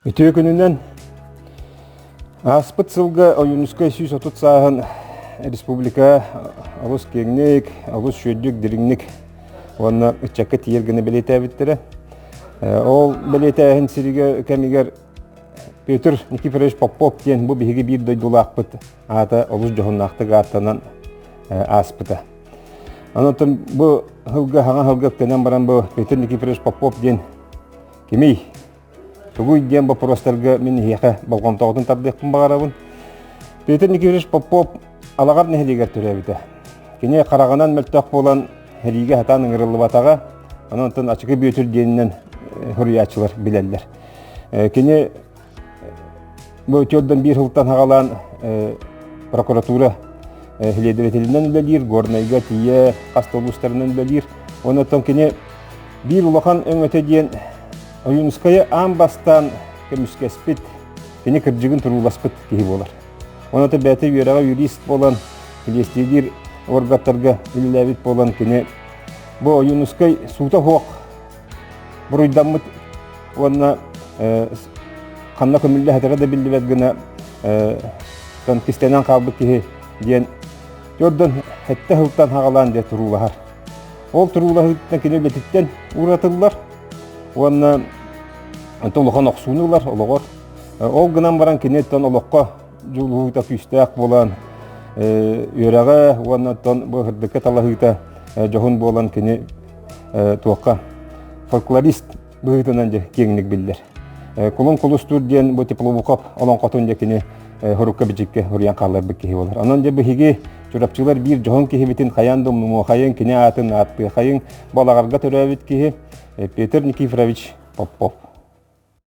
Үтүө күнүнэн ааспыт сылга Ойуунускай сүүс отут сааһын республика олус киэҥник, олус сүрдүк дириҥник уонна ыччакка тиийэр гына бэлиэтээбиттэрэ. Э, ол бэлиэтээһин сиргэ кэмигэр Петр Никифорович Попов диэн бу биһиги биир дойдулаахпыт аата олус дьоһуннаахтык ааттанан э, ааспыта. Онон бу сылга хаҥа сылга көнөн баран бу Петр Никифорович Попов диэн кимий? Тугуй диэн боппуруостарга мин эһиэхэ болҕомтоҕутун тардыахпын баҕарабын. Петр Никифорович Попов Алаҕар нэһилиэгэр төрөөбүтэ. Кини хараҕынан мөлтөх буолан сэриигэ хатан ыҥырыллыбатаҕа, онон оттон Ачыкы Бүөтүр диэнинэн э, суруйааччылар билэллэр. Э, кини Бу үтүөрдэн биир сылтан хагалаан прокуратура следователинэн үлэлиир, Горнайга тиийэ хас улуустарынан үлэлиир. Оннотон кини биир улахан өҥөтө диэн Ойуунускайы аан бастаан көмүскэспит, кини кырдьыгын турууласпыт киһи буолар. Оннотон бэйэтэ үөрэҕэ юрист буолан, клиестиилиир органтарга үлэлээбит буолан, кини бу Ойуунускай суута суох буруйдаммыт уонна ханна көмүллэһэтэрэ да биллибэт гына кистэнэн хаалбыт киһи диэн төрдөн хэттэ сылтан хаҕалаан диye туруулаһар. Ол туруулаһыыттан кини үлэтиттэн ууратыллар уонна олохон охсууну ылар олоҕор. Ол гынан баран киниттэн олоххо дьулуһуута күүстээх буолан үөрэҕэ уонна тон бу һырдыкка талаһыыта дьоһун буолан кини туохха фольклорист быһыытынан дьэ киэҥник биллэр. Кулун Кулустуур диэн бу Тепловуков олоҥхотун дьэ кини хорукка-бичиккэ уруйан хааларбыт киһи буолар. Онон дьэ биһиги Чурапчылар биир дьоһун киһибитин хайаан да умнумуохайын, кини аатын ааттыахайын бу алаҕарга төрөөбүт киһи Петр Никифорович Попов.